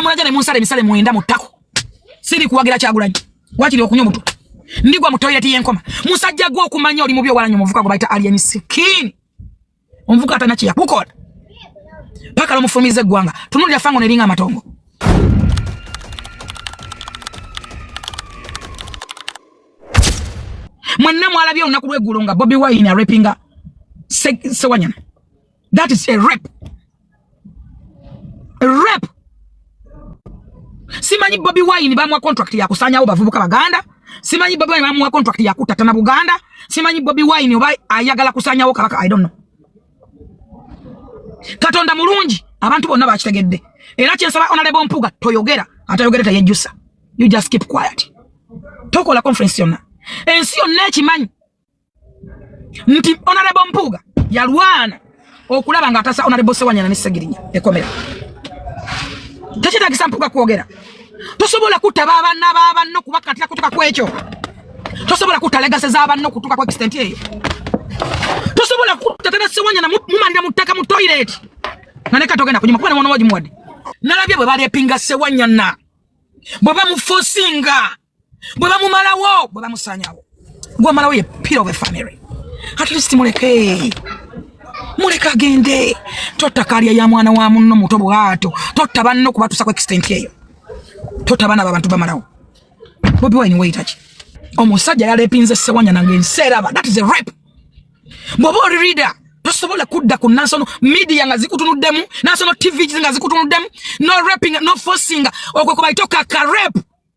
mulaja ne munsala emisale mwenda mu ttako siri kuwagira kyagulanyi wakiri okunywa omutwe ndigwa mu toyireti y'enkoma musajja gwe okumanya oli mubi owalanyi omuvuka gwe bayita alien skin omuvuka atana kye yakukola paka lomufulumiza eggwanga tunulira fango neringa amatongo mwenna mwalabye olunaku lweggulo nga bobi wine arepinga sewanyana That is a rape. A rape. Simanyi Bobi Wine bamwa contract ya kusanyawo bavubuka baganda. Simanyi Bobi Wine bamwa contract ya kutatana Buganda. Simanyi Bobi Wine oba ayagala kusanyawo kabaka I don't know. Katonda mulungi abantu bonna bakitegedde. Era kyensaba Honorable Mpuga toyogera atayogera tayejjusa. You just keep quiet. Tokola conference yonna. Ensi yonna ekimanyi nti onarebo mpuuga yalwana okulaba nga atasa onarebo sewanyana ne segirinya ekomera tekitagisa mpuuga kwogera tosobola kutta babanna babanno kubakatira kutuka kwekyo tosobola kutta legase zabanno kutuka kwa extent eyo tosobola kutta tata sewanyana mumalira mu ttaka mu toilet nga ne katogenda kunyuma kuba ne mwana wagimuwadde nalabye bwe balepinga sewanyana bwe bamufosinga bwe bamumalawo bwe bamusanyawo gwamalawo ye pillar of a family at least muleke muleke agende totta kalya ya mwana wa munno muto bwato totta banno kubatusa ku extent eyo totta baana babantu bamalawo bobi wine weyitaki omusajja yalepinze sewanya nange nseeraba that is a rape bwoba oli reader tosobola kudda ku national media nga zikutunuddemu national tv nga zikutunuddemu no raping no forcing okwe kubaitoka ka rape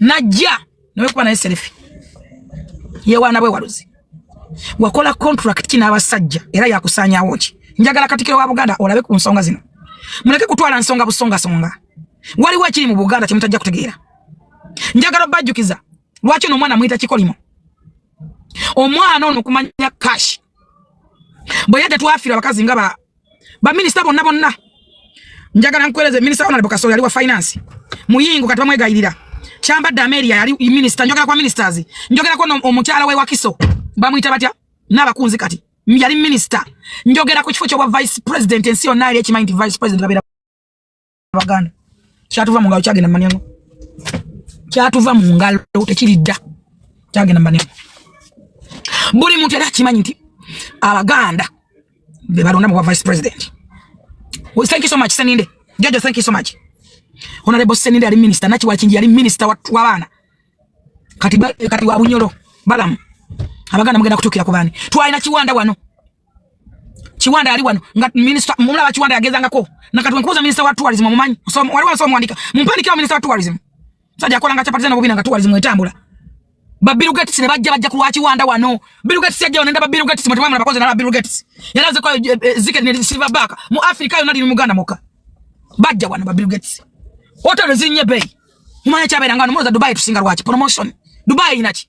najja nawe kuba naye selefi yewaana bwewaluzi wakola contract ki n'abasajja era yakusaanyawo ki njagala katikiro wa buganda olabe ku nsonga zino muleke kutwala nsonga busongasonga waliwo ekiri mu buganda kyemutajja kutegeera njagala obajjukiza lwaki ono omwana muyita kikolimo omwana ono kumanya kashi bwe yadde twafira abakazi nga ba minister bonna bonna njagala nkueleze minister honorable kasole ali wa finance muyingo kati bamwegayirira kyambadde amelia yali minister njogera kwa ministers njogera kwa omukyala we wakiso bamuyita batya n'abakunzi kati yali minister njogera ku kifo kyobwa vice president ensi yonna yali ekimanyi nti vice president babera abaganda kyatuva mu ngalo kyagenda manyango kyatuva mu ngalo tekiridda kyagenda manyango buli muntu era akimanyi nti abaganda be balonda mu bwa vice president well, thank you so much seninde jojo thank you so much honorable seninde ali minister nachi wakinji ali minister wa bana kati kati wa bunyoro balamu abaganda mugenda kutukira kubani twalina kiwanda wano Kiwanda ali wano nga minister mumla wa Kiwanda yageza ngako na katwe nkuza minister wa tourism mumanyi so wali wanso mwandika mumpani kwa minister wa tourism saja akola nga chapati zana bobina nga tourism etambula ba Bill Gates ne bajja bajja kuwa Kiwanda wano Bill Gates yajja wano ndaba Bill Gates mutwa mwana bakoze na Bill Gates yalaze kwa eh, eh, zike ne silver back mu Africa yona ndi mu Uganda moka bajja wano ba Bill Gates hotel zinye bay mumanya chabera ngano moza Dubai tusinga rwachi promotion Dubai inachi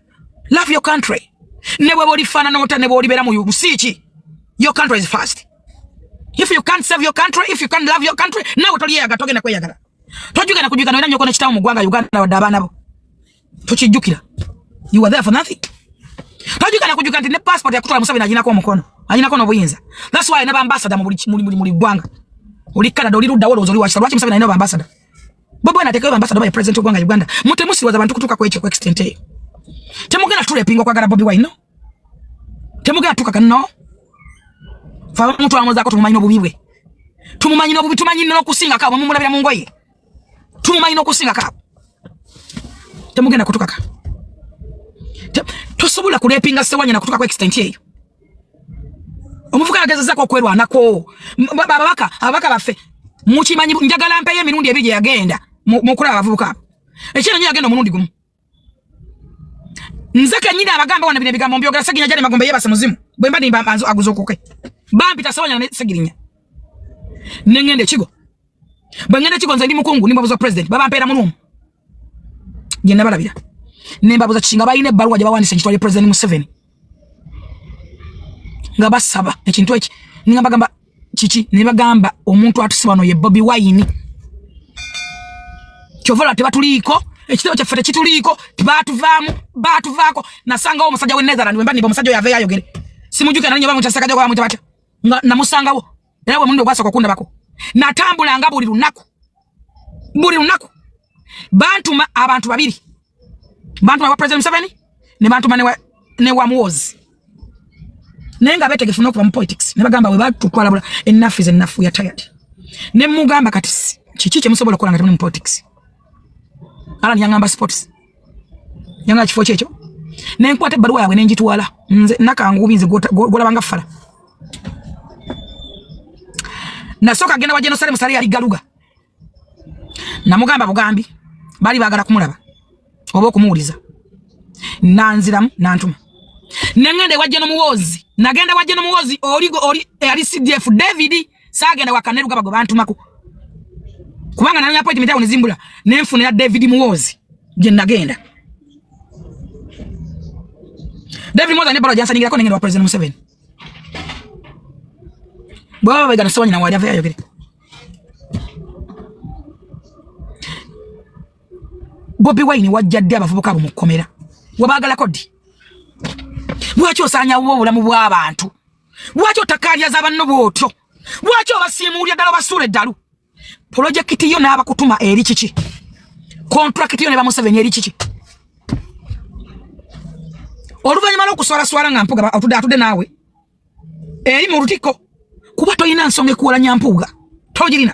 love your country ne bweba olifaanana ota ne bwolibeera mu nsi ki your country is first if you can't serve your country if you can't love your country nawe toliyeyaga togenda kweyagala tojugenda kujugana olina nyoko nekitawo mu gwanga uganda wadde abaana bo tokijjukira you are there for nothing tojugana kujuka nti ne passport yakutwala museveni aginako omukono aginako nobuyinza thats why ne bambasada mu buli gwanga oli canada oli ludda wolowooza oli wakisa lwaki museveni alina bambasada Bobi Wine atekewe ambassador by president ogwanga Uganda. Mute musi waza bantu kutuka kweche kwa extent eyo. Temugena tule pingo kwa gara Bobi Wine no. Temugena tuka kanno. Fa mtu amoza ko tumumanyi obubi bwe. Tumumanyi no bubi tumanyi no kusinga kabo mumulabira mu ngoye. Tumumanyi no kusinga kabo. Temugena kutuka ka. Tosobola kulepinga sewanya na kutuka kwa extent eyo. omuvuka yagezezako okwerwanako babaka ababaka baffe mukimanyi njagala mpeyo emirundi ebiri gyeyagenda mukulaba abavubuka abo ekyera nyo yagenda omulundi gumu nze kenyini abagamba wana bino ebigambo mbyogera segirinya jane magombe yebase muzimu bwemba nimba aguza okuke bampita sewanya ne segirinya nengenda ekigo bwe ŋŋenda kiko nze ndi mukungu ne mbabuza president baba mpeera mu luumu gye nabalabira ne mbabuza kiki nga balina ebbaluwa gye bawandisa ekitwali president museveni nga basaba ekintu eki nga bagamba kiki ne bagamba omuntu atuse wano ye bobi wayini kyova lwa tebatuliiko ekitabo kyaffe tekituliiko batuvaamu batuvaako nasangawo omusajja w'e netherland wemba nimba omusajja oyo aveyo ayogere simujukira nanyobamukyasekajagwamutabatya nga namusangawo era gwe mulundi ogwasooka okundabako natambulanga buli lunaku buli lunaku bantuma abantu babiri bantuma wa president museveni ne bantuma ne wa muwozi naye nga betegefu nokuba mu politics ne bagamba we batutwalabula enafu is enafu ya tired ne mugamba kati kiki kyemusobola okukola nga temuli mu politics ala niyangamba sports nyanga kifo kyekyo ne nkwata ebbaluwa yaabwe ne ngitwala nze nakangubi nze gwolabanga fala nasooka agenda wa jenosale musale yali galuga namugamba bugambi baali baagala kumulaba oba okumuwuliza nanziramu nantuma nengenda ewajja nomuwoozi nagenda wajja nomuwoozi oli oli eyali cdf david Saagenda wa Kaneruga bagwe bantumako. Kubanga nalina appointment awo nezimbula nenfuna ya David Muwozi gye nagenda. David Muwozi ne balo jansaningirako nengenda wa President Museveni. Bwaba bagana sobanyi na wali avayo ayogere. Bobi Wine wajja ddi abavubuka abo mu kkomera? Wabaagalako ddi? Lwaki osaanyawo obulamu bw'abantu? lwaki otakaalyaza banno bw'otyo lwaki obasiimuulya ddala obasuula eddalu pulojekiti yo n'abakutuma eri kiki kontulakiti yo ne bamuseveni eri kiki oluvannyuma lw'okuswalaswala nga mpuga otudde atudde naawe eri mu lutikko kuba tolina nsonga ekuwalanya mpuuga togirina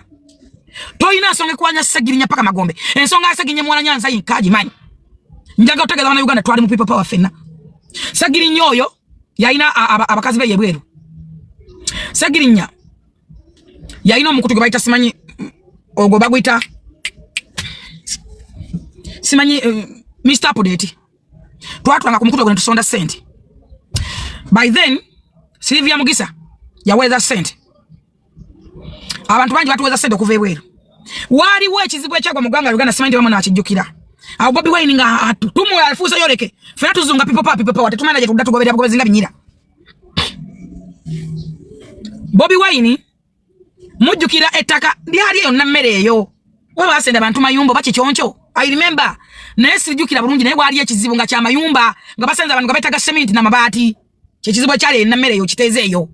tolina nsonga ekuwalanya segirinya paka magombe ensonga yasegirinya muwala nyanza yinkagimanyi njaga otegeza bana uganda twali mu people power fenna segirinya oyo yalina abakazi be yebweru segirinya yalina omukutu gwe bayita simanyi ogwo baguyita simanyi uh, eh, mr apudeti twatulanga ku mukutu ogwo netusonda sente by then silivia mugisa yaweereza sente abantu bangi batuweza sente okuva ebweru waaliwo ekizibu ekyagwa mu ggwanga uganda simanyi tebamu nakijjukira awo bobi wine nga tumula afuusa yoleke fena tuzunga pipopa pipopawa tetumana gyetudda tugoberera bugobezi nga binyira bobi wine mujjukira ettaka lyali eyo nammere eyo waba basenda abantu mayumba oba kikyonco i remember naye sijjukira bulungi naye waaliyo ekizibu nga kyamayumba nga basenza abantu nga betaga seminti na mabaati kyekizibu ekyali erina mmere eyo kiteeze eyo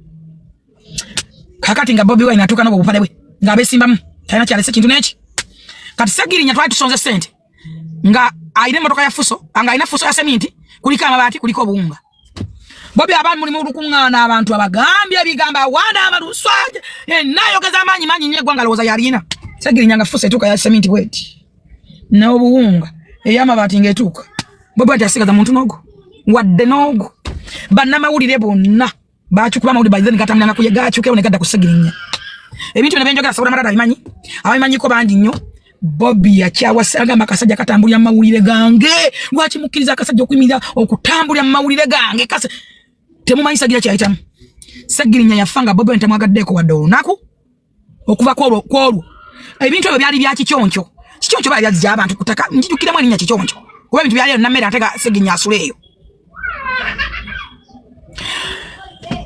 kakati nga bobi wine atuuka nobubupale bwe nga abesimbamu talina kyalese kintu neki kati segirinya twali tusonze sente nga alina emotoka ya fuso nga alina fuso ya seminti kuliko amabaati kuliko obuwunga bobi abaali mulimu olukuŋŋaana abantu abagambye ebigambo awaana amaluswaje enayogeza amaanyi manyi nyo eggwanga lowooza yalina segirinya nga fuso etuuka ya seminti bweti n'obuwunga ey'amabaati ng'etuuka bwe bwati asigaza muntu n'ogu wadde n'ogu bannamawulire bonna bakikuba amawulire by then gatamulanga kuye gakyukewo ne gadda ku segirinya ebintu bino byenjogera sobola malala abimanyi abimanyiko bangi nnyo bobi yakyawasa agamba akasajja katambulira mumawulire gange lwaki mukkiriza akasajja okuyimirira okutambulira mumawulire gange kase temumanyi sagira kyayitamu sagirinya yafa nga bobi wine temwagaddeeko wadde olunaku okuva kwolwo kwolwo ebintu ebyo byali bya kikyonco kikyonco bali byazija abantu kutaka njijukiremu erinnya kikyonco kuba ebintu byali nammere ate ga segirinya asula eyo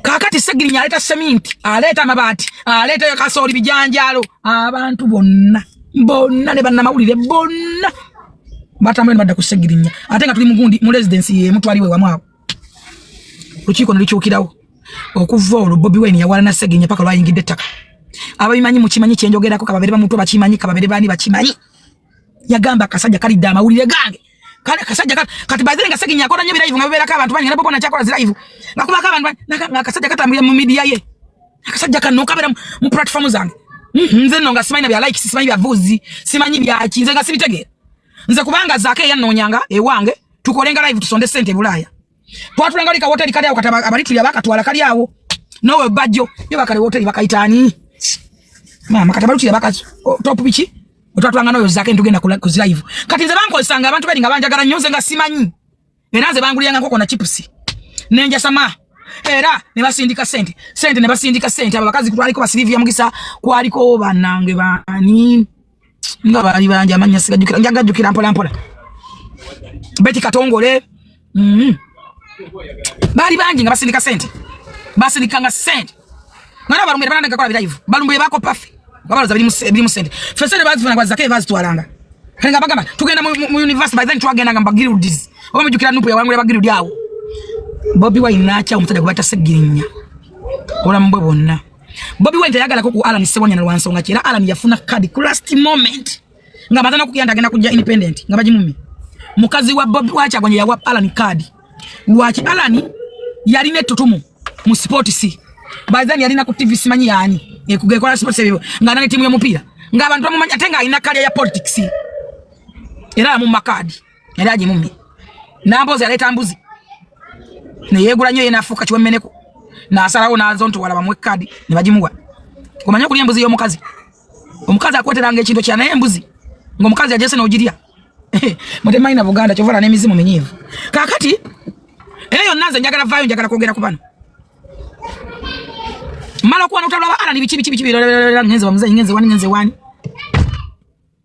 kakati segirinya aleeta seminti aleeta amabaati aleeta kasooli bijanjaalo abantu bonna bonna ne bannamawulire bonna batambula ne badda ku segirinya ate nga tuli mugundi mu residensi yemu twaliwo ewamu awo lukiiko ne lukyukirawo okuva olwo bobi wine yawalana segenya paka lwayingidde ettaka ababimanyi mukimanyi kyenjogerako kababere bamuntu bakimanyi kababere bani bakimanyi yagamba akasajja kalidde amawulire gange kale kasajja kati kati bazire ngase kinya kora nyebira hivyo ngabera kabantu bani ngabo kona chakora zira hivyo ngakuba kabantu na kasajja katambira mu media ye kasajja kanu kabera mu platform zange mhm, nze no ngasimanyi na bya likes simanyi bya vuzi simanyi bya kinze ngasibitege nze kubanga zake yanonyanga ewange tukolenga live tusonde sente bulaya twatulanga lika hotel kali awo kataba abali tuya bakatwala kali awo nowe bajjo yo bakali hotel bakaitani mama kataba tuya bakazo top bichi otwatwanga noyo zake ntugenda kula ku live kati nze banko sanga abantu bali ngabanja gara nyoze nga simanyi era nze banguli yanga koko na chips nenja sama era ne basindika sente sente ne basindika sente abakazi kutwaliko basilivia mugisa kwaliko banange bani nga baali bangi amannya sigajjukira nja gajjukira mpola mpola beti katongole mm-hmm. baali bangi nga basindika sente basindikanga sente nga nabalumbire banandagekola birayivu balumbire bakopafe nga baloza birimu sente fe sente bazifuna gwazizako ebazitwalanga kale nga bagamba tugenda mu university by then twagendanga mu bagirudis oba mujjukira nupu yawangula bagirudi awo bobi wayinaakya omusajja gwe batase girinya obulamu bwe bwonna Bobi Wine tayagalako ku Alan Sewanya na lwansonga kira Alan yafuna card ku last moment nga bazana kugenda agenda kujja independent nga bajimumi mukazi wa Bobi wacha kwenye ya wap Alan card lwachi Alan yali ne tutumu mu sport si bazani yali na ku TV simanyi yani ekugekola sport sebibo nga nani timu ya mupira nga abantu bamumanya tenga ina kali ya politics era mu makadi yali agimummye namboozi yaleeta mbuzi neyeegula nnyo ye nafuuka kiwemmeneko nasalawo nazo nti wala bamuwe kadi ne bagimuwa omanye okulya embuzi y'omukazi omukazi akweteranga ekintu kya naye embuzi ng'omukazi ajese n'ogirya mutemalina buganda kyovala n'emizimu minyiivu kakati era yonna nze njagala vaayo njagala kwogera ku bano mala okuwana otalaba alani biki biki biki ngenze wamuzeyi ngenze wani ngenze wani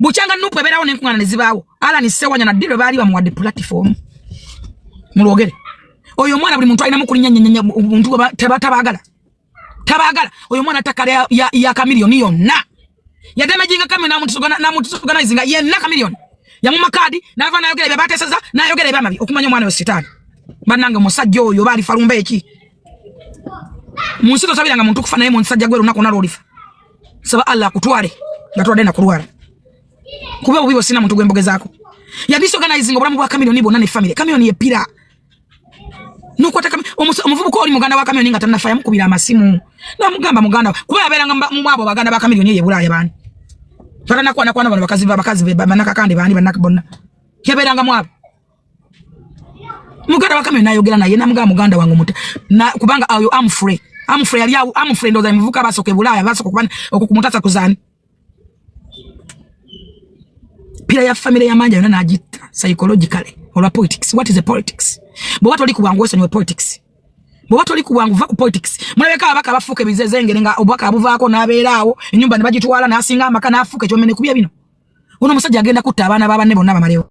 bukyanga nupu ebeerawo nenkungana nezibaawo alani sewanya naddi lwe baali bamuwadde platform mulwogere oyo omwana buli muntu alinamu kulinyanyanya buntu tabagala tabagala oyo omwana takale ya, ya, ya kamiliyoni yonna yadamejinga kamyo namutusoganaizinga yenna kamiliyoni yamuma kaadi nava nayogera ebyo bateseza nayogera ebyamabi okumanya omwana oyo sitaani banange omusajja oyo oba alifa lumba eki munsi tosabiranga muntu kufa naye munsajja gwe lunaku nalwolifa saba Allah akutwale nga twadde nakulwala kuba obubi bwosina muntu gwembogezaako ya disorganizing obulamu bwa kamilioni bwonna ne family kamilioni yepira nokwata omuvubuka oli muganda wa kamilioni nga tannafa yamukubira amasimu namugamba muganda kuba yabeeranga mumwabo baganda ba kamilioni eyo ebulaaya baani twatanakwanakwana bano bakazi bakazi banakakande baani banaka bonna yabeeranga mwabo muganda wakame nayogera naye namugamba muganda wange omuta kubanga ayo amfre amfre yali awo amfre ndoza muvuka basoke bulaya basoka kubana okukumutasa kuzani pira ya family ya manja yona najita psychologically olwa politics what is the politics bo watu liku wangu wesonyo politics bo watu liku wangu vaku politics mulabeka abaka bafuke bizezengere nga obwaka abuvako nabeerawo enyumba nebagitwala nasinga amaka nafuke kyomene kubya bino uno musajja agenda kutta abaana babanne bonna bamalewo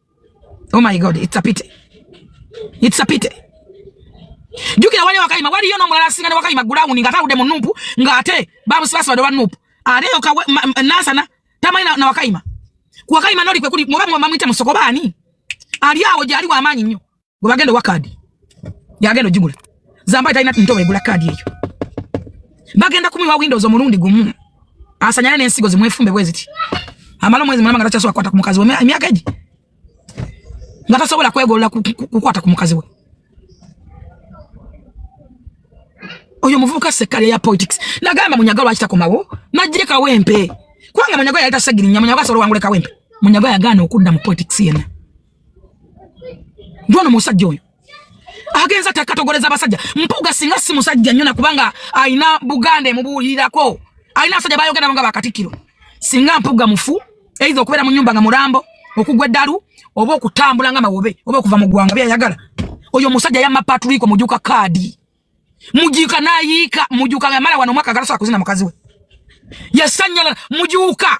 Oh my God, it's a pity. It's a pity. Jukira wale wakayima wali yona mulala singa ne wakayima gulawuni nga talude mu nupu nga ate babu sibasa wade wa nupu ate yo kawe nasa na tamani na, na wakayima ku wakayima noli kwe kuli mwabamu mwamwita musoko bani ali awo jali wa amanyi nyo gwe bagenda owa kaadi yagenda ogigula zambaye talina nto wegula kaadi eyo bagenda kumiwa windows omulundi gumu asanyane n'ensigo zimwefumbe bwe ziti amala omwezi mulamba nga takyasobola kukwata ku mukazi we emyaka egi nga tasobola kwegolola kukwata ku mukazi we oyo muvubuka sekkalya ya politics nagamba munyaga lwaki takomawo najje kawempe kubanga munyaga yali tasegirinya munyaga asobola wangule kawempe munyaga yagaana okudda mu politics yena Ndwano musajja oyo agenza tekatogoleza abasajja mpuga singa si musajja nyona kubanga alina buganda emubuulirako alina abasajja bayogera nga bakatikkiro singa mpuga mufu eitha okubeera mu nyumba nga mulambo okugwa eddalu oba okutambula nga mawobe oba okuva mu ggwanga byayagala oyo omusajja yamma patriko mujuka kaadi mujuka nayiika mujuka nga mala wano omwaka agalasobola kuzina mukazi we yasanyala mujuka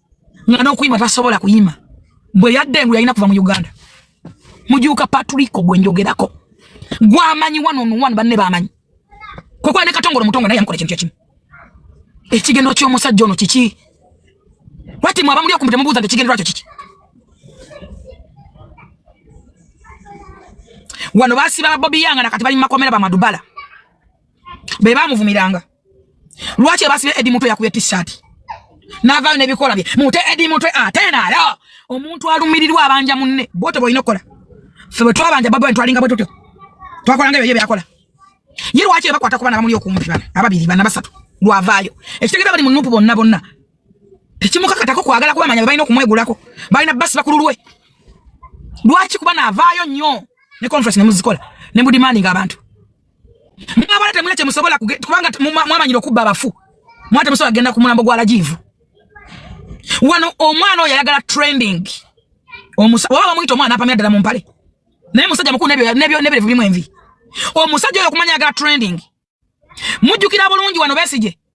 nga nokuyima tasobola kuyima bwe yadde engu yalina kuva mu uganda mujuuka patriko gwe njogerako gwamanyi wanonuwanu banne bamanyi kwekuba ne katongole omutongo naye yamukola ekintu kyekimu ekigendo kyomusajja ono kiki wati mwaba muli okumbi temubuuza nti ekigendero kyo kiki wano basiba babobi yanga nakati bali mumakomera bamadubala bebamuvumiranga Lwaki ebasibe Eddie Mutwe yakubye t-shirt? Navayo nebikola bye. Mute Eddie Mutwe atena ah, ya. Omuntu alumirirwa abanja munne. Bote boyino kola. Febe twabanja babu ntwalinga bwe tutyo. Twakola ngayo yebe yakola. Ye lwaki ebakwata kubana bamuli okumpi bana. Ababiri bana basatu. Lwavayo. Ekitegera bali munupu bonna bonna. Tekimukakatako kwagala kuba manya balina okumwegulako. Balina basi bakululwe. Lwaki kuba navaayo nnyo ne conference ne muzikola ne mudimandinga abantu mwabala temulina kyemusobola kubanga mwamanyira okubba abafu mwate musobola kugenda ku mulambo gwa lajivu wano omwana oyo ayagala trending oba bamuyita omwana apamira ddala mu mpale naye musajja mukulu nebirevu bimu envi omusajja oyo okumanya ayagala trending mujjukira bulungi wano besigye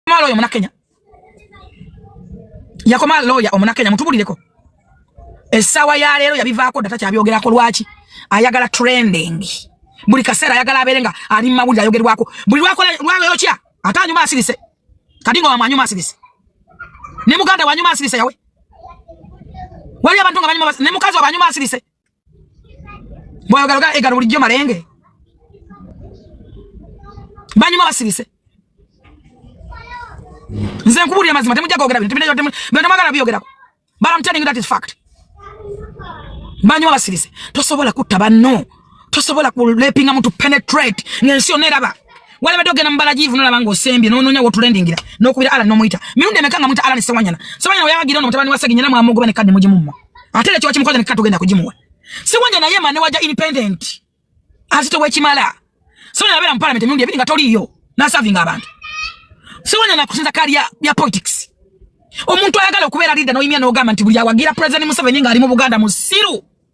yakomaa looya omuna kenya yakomaa looya omuna kenya mutubulireko essaawa ya leero yabivaako dda takyabyogerako lwaki ayagala trending buli kaseera ayagala abeere nga ali mu mawulire ayogerwako buli lwakola lwayokya ate anyuma asirise kati nga wamwanyuma asirise ne muganda wanyuma asirise yawe wali abantu nga banyuma ne mukazi wabanyuma asirise bwayogala ga egalo bulijjo malenge banyuma basirise nze nkubuulira mazima temujja gogera bintu binatemwagala biyogerako but I'm telling you that is fact banyuma basirise tosobola kutta banno tosobola kulepinga muntu penetrate ng'ensi yonna eraba walabadde ogenda mu balagiivu nolaba ng'osembye n'onoonya wotulendingira n'okubira ala n'omuyita mirundi emeka nga muyita ala ne sewanyana sewanyana weyawagira ono mutabani wa seginya era mwamugoba ne kadde mugimumma ate era kiwa kimukoza ne kika tugenda kugimuwa sewanyana ye mane waja independent azito wekimala sewanyana abeera mu palamenti emirundi ebiri nga toliiyo nasavinga abantu sewanyana kusinza kaali ya politics omuntu ayagala okubeera lidda noyimya n'ogamba nti buli awagira pulezidenti museveni ng'ali mu buganda musiru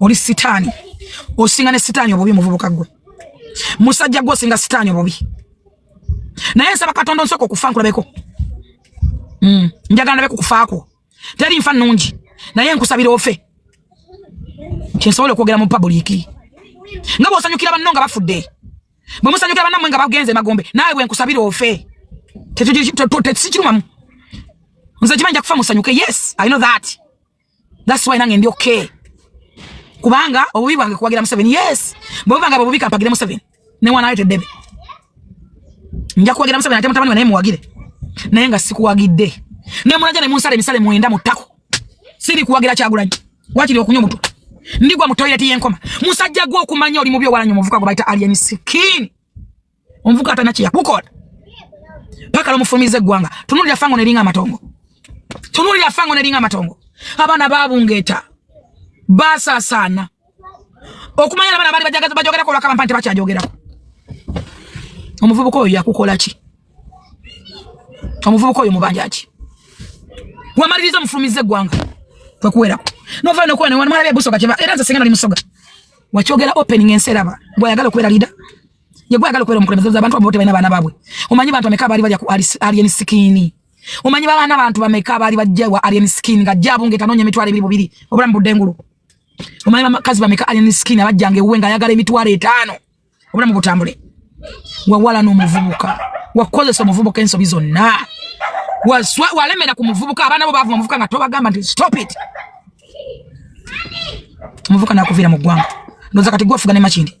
oli sitaani osinga ne sitaani obubi muvubuka gwe musajja gwe osinga sitaani obubi naye nsaba katonda onsooka okufa nkulabeko mm. njagala ndabe kukufaakwo teri nfa nungi naye nkusabira ofe kyensobola okwogera mu pabuliiki nga bwosanyukira banno nga bafudde bwe musanyukira bannamwe nga bagenze magombe naawe bwe nkusabira ofe tetusikirumamu nze kimanyi nja kufa musanyuke yes i know that That's why nange ndi okay. Kubanga obubi bwange kuwagira Museveni. Yes. Bwe banga obubi kampagire Museveni. Ne wana ayete debe. Nja kuwagira Museveni ate mutabani wanaye muwagire. Naye nga sikuwagidde. Ne mulaja ne munsale misale muenda mutako. Siri kuwagira kyagulanyi. Wakiri okunywa mutu. Ndigwa mu toilet yenkoma. Musajja gwo okumanya oli mubi owala nyo muvuka gwo baita alien skin. omuvuka atana kye yakukola paka lomufulumiza eggwanga tunulira fango neringa amatongo tunulira fango neringa amatongo abaana babungeeta basasaana okumanya abaana baali bajogerako olwakaba mpa nti bakyajogerako omuvubuka oyo yakukola ki omuvubuka oyo mubanja ki wamaliriza omufulumiza eggwanga kwekuwerako novaa nokuwa newanmwalabe busoga era nze singa nali musoga wakyogera opening ensi eraba bwayagala okubeera lida yegwe agala okwera omukulembeze za abantu abote balina baana babwe omanyi bantu ameka bali balya ku alien skin omanyi baana bantu bameka bali bajja wa alien skin nga jabu ngeta nonya mitwale bibiri bibiri obula mbudengulu omanyi bakazi bameka alien skin abajja nge uwe nga yagala emitwale etano obula mubutambule wawala no muvubuka wakozesa omuvubuka ensobi zonna waswa walemera ku muvubuka abaana bo bavuma omuvubuka nga tobagamba nti stop it omuvubuka nakuvira mu ggwanga ndoza kati gwofuga ne makindi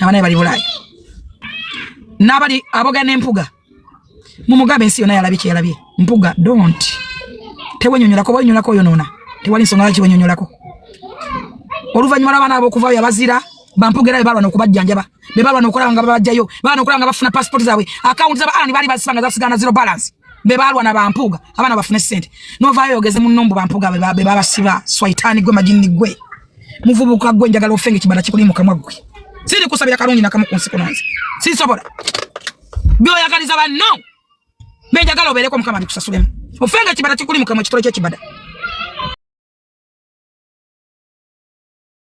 abanaye bali bulaaya n'abali abogera n'empuga mumugambe ensi yona yalabye kyeyalabye mpuga don't tewenyonyolako bwenyonyolako oyonona tewali nsonga lwaki wenyonyolako oluvannyuma lw'abaana abo okuvaayo abazira bampugera be balwana okubajjanjaba be balwana okulaba nga babajjayo balwana okulaba nga bafuna pasipoti zaabwe akawunti zaba ani baali bazisanga zasigana zero balance be balwa na bampuga abana bafune sente nova yogeze munno mbu bampuga be babasiba swaitani gwe majini gwe muvubuka gwe njagala ofenge kibanda kikuli mu kamwa gwe siri kusabira kalungi nakamu ku nsi kunonze siri sobola byoyagaliza banno be njagala obeereko mukama abikusasulemu ofenge kibanda kikuli mu kamwa kitole kyekibada